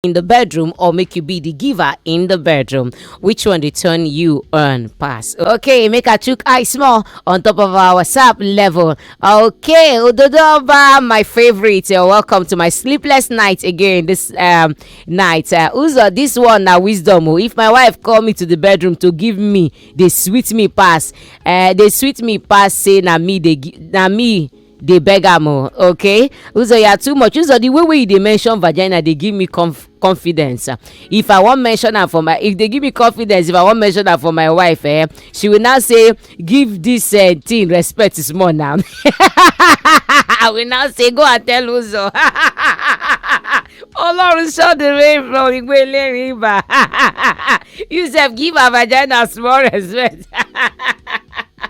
in the bedroom or make you be the giver in the bedroom which one the turn you earn pass okay make a chook eye small on top of our whatsapp level okay ododoba my favorite you're welcome to my sleepless night again this um night uh, uzo this one now wisdom oh. if my wife call me to the bedroom to give me they sweet me pass uh, they sweet me pass say na me they na me dey beg am o okay uzo you are too much uzo the way wey you dey mention vagina dey give me conf confidence if i wan mention am for my if dey give me confidence if i wan mention am for my wife eh she will now say give this uh, thing respect small now i will now say go and tell uzo ọlọrun show the rain from igbo elerin iba you sef give her vagina small respect.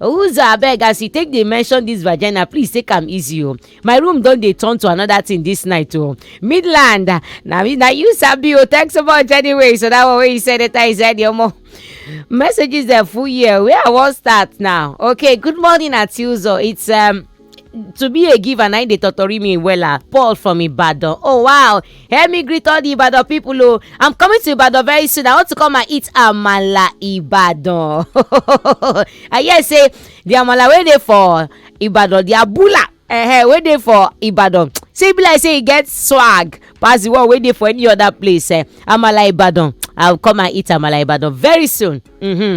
Uzo abeg as you take dey mention this vagina please take am easy o. My room don dey turn to another thing this night o. Midland na me na you sabi o thanks so much anyway so that one wey you said it I said your mom. Messages dey full here where I wan start now okay good morning Ati Uzo it's um, to be a giver na im dey totori me wella paul from ibadan oh wow help me greet all the ibadan people o i'm coming to ibadan very soon i want to come and eat amala ibadan i hear say the amala wey dey for ibadan the abula uh, wey dey for ibadan say e be like say e get swag pass the one wey dey for any other place eh amala ibadan i will come and eat amala ibadan very soon. Mm -hmm.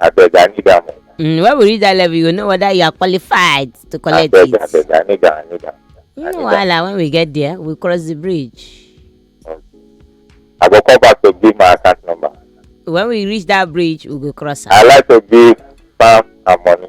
Abeg, I need am. Mm, when we reach that level, you know whether you are qualified to collect abeg, it. Abeg, I need am, I need am. No wahala, when we get there, we cross the bridge. Okay. I go come back to give my account number. When we reach that bridge, we go cross am. I like to give farm and money.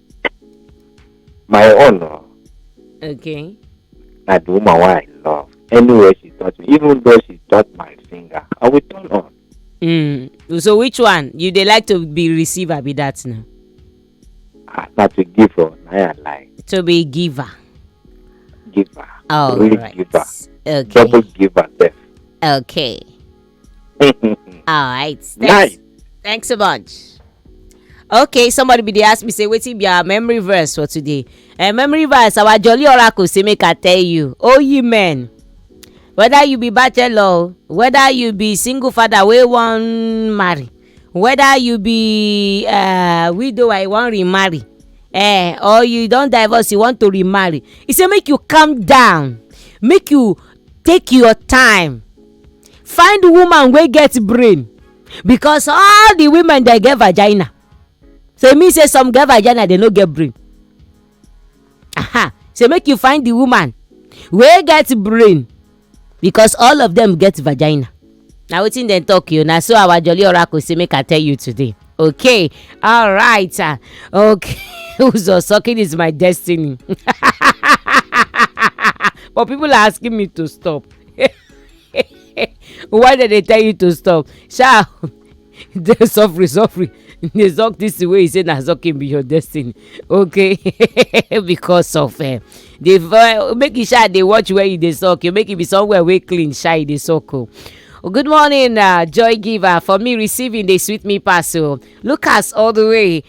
My own, oh, Okay. na the woman wey I love. Anywhere she touch me, even though she touch my finger, I will turn on. Mm. So which one? You dey like to be receiver be that now? Ah, na to give her, na I like. To be giver. Give her. All Really right. give her. Okay. Double give her sef. Okay. All right. Thanks. Nice. Thanks a bunch. okay somebody be dey ask me say wetin be our memory verse for today uh, memory verse our jolly oracle say make i tell you oh ye men whether you be bachelor whether you be single father wey wan marry whether you be uh, widow i wan remarry eh, or you don divorce you want to remarry e say make you calm down make you take your time find woman wey get brain because all the women dey get vagina so e mean say some get vagina dey no get brain aha so make you find the woman wey get brain because all of them get vagina na wetin dem talk you na so our jolly oracle say make i tell you today okay all right ah, okay uzo sucking is my destiny but people are asking me to stop why dem dey tell you to stop sha dey suffering suffering dey suck this thing wey you say na sucking be your destiny okay because of uh, the uh, make you sha dey watch where you dey suck you make e be somewhere wey clean sha you dey suck o. Oh. Good morning, uh, Joy Giver. For me, receiving they sweet me pass. So, Lucas all the way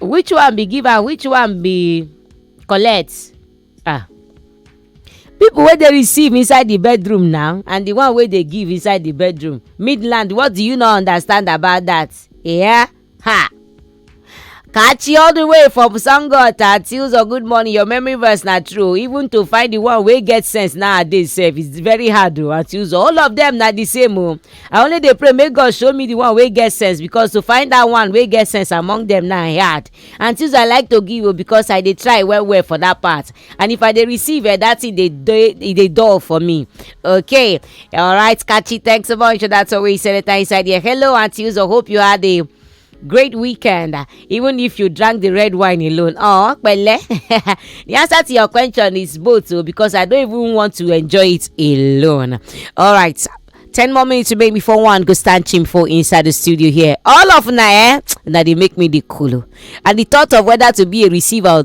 which one be give and which one be collect ah people wey dey receive inside the bedroom now and the one wey dey give inside the bedroom midland what do you no understand about that yeah ha catch you all the way from sangota till so good morning your memory verse na true even to find the one wey get sense nowadays sef it's very hard o atiuzo all of them na the same o i only dey pray make god show me the one wey get sense because to find that one wey get sense among them na hard and things i like to give o because i dey try well well for that part and if i dey receive eh, that thing dey dey e dey dull for me okay all right catchy thanks so much that's always anytime inside here hello auntie uzo hope you had a great weekend ah, even if you drank the red wine alone oh pẹ̀lẹ́ the answer to your question is both o because i don't even want to enjoy it alone alright ten more minutes to make before one go stand chim for inside the studio here all of una eh na dey make me dey cool o and the thought of whether to be a receiver or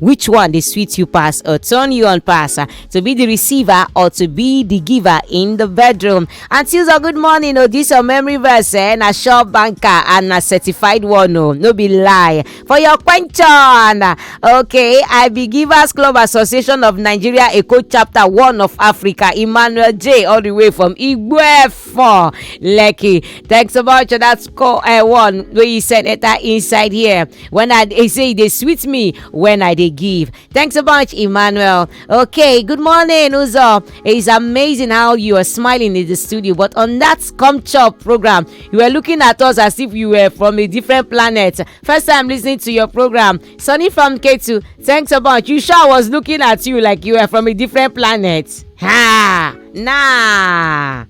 Which one dey sweet you pass or turn you on pass? ah, To be the receiver or to be the giver in the bedroom? And Susan, good morning. Oh, this your memory verse, eh? Na sure banker and na certified one, oh, no be lie. For your question, okay, I be Givers Club Association of Nigeria Eco Chapter 1 of Africa, Emmanuel J, all the way from Igwefo, Lekki. Thanks so much for that score, uh, one where you said enter inside here. when i dey say e dey sweet me when i dey give thanks so much emmanuel okay good morning uzo it's amazing how you are smiling in the studio but on that come chop program you were looking at us as if you were from a different planet first time listening to your program sunny from k2 thanks so much you sure was looking at you like you were from a different planet ha nah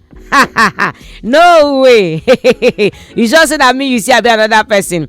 no way you sure say na me you see abi another person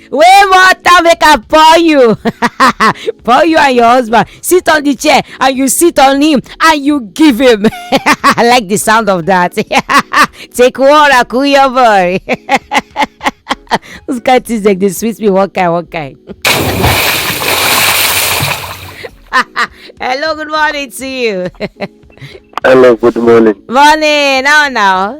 wey water make am pour you pour you and your husband sit on the chair and you sit on him and you give him i like the sound of that take one akuyo your boy those kind things like dey sweet me one kind one kind. hello good morning to you. Hello, good morning. morning now now.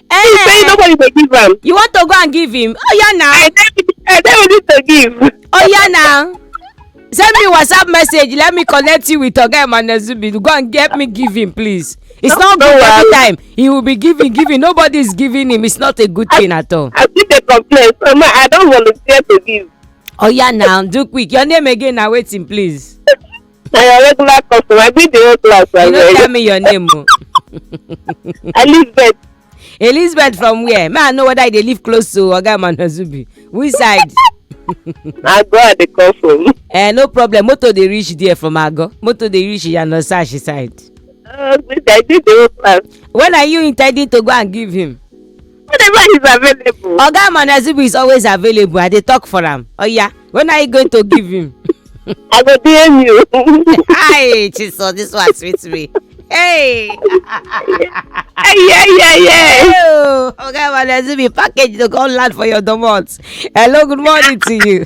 He say Eh, nobody dey give am. you want to go and give him oya na I dey I dey ready to give. oya na send me whatsapp message let me connect you with oga emmanuel zubi go and help me give him please it's No, not no good every wahala. time he will be giving giving nobody is giving him it's not a good thing at all I still dey complain so ma I don volunteer to give. oya na do quick your name again na wetin please. na your regular customer i be the whole class you no tell me your name o. Oh. elizabeth. elizabeth from where may i know whether you dey live close to oga manazubi which side. na go i dey call from. Eh, no problem motor dey reach there from ago motor dey reach yanosashi side. Uh, I did the whole class. when are you intending to go and give him. Whenever he's available. oga monazibu is always available i dey talk for am oya when are you going to give him. I go DM you. hi chiso this one sweet me. hey. yeah, yeah, yeah. Hello, oga monazibu package to come land for your domot hello good morning to you.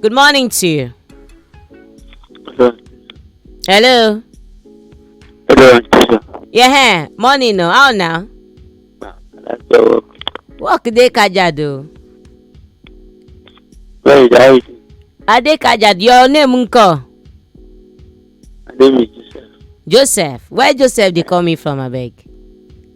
Good morning to you. Hello. Hello, teacher. Yeah, hey, morning no. How now? That's your work. Work dey Kajado. Where is how it is? Ade Kajado, your name nko? My name is Joseph. Joseph. Where Joseph dey call me from abeg?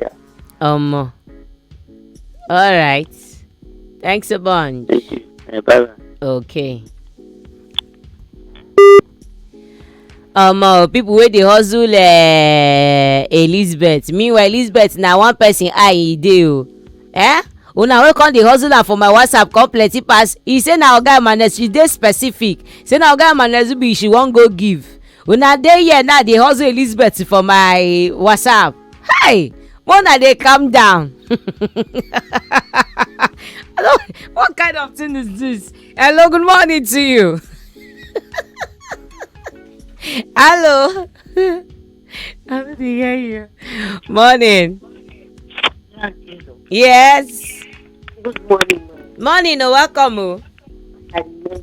Yeah. Um. All right. Thanks a bunch. Thank you. Yeah, bye bye. Okay. um uh, people wey dey hustle uh, elizabeth meanwhile elizabeth na one person eye e dey o eh una wey come dey hustle am for my whatsapp come plenty pass e say na oga emanesu she dey specific say na oga emanesu be she wan go give una dey here now dey hustle elizabeth for my whatsapp hi mona dey calm down what kind of thing is this hello good morning to you hello i no dey hear you morning yes Good morning. ma'am. morning o welcome o. I know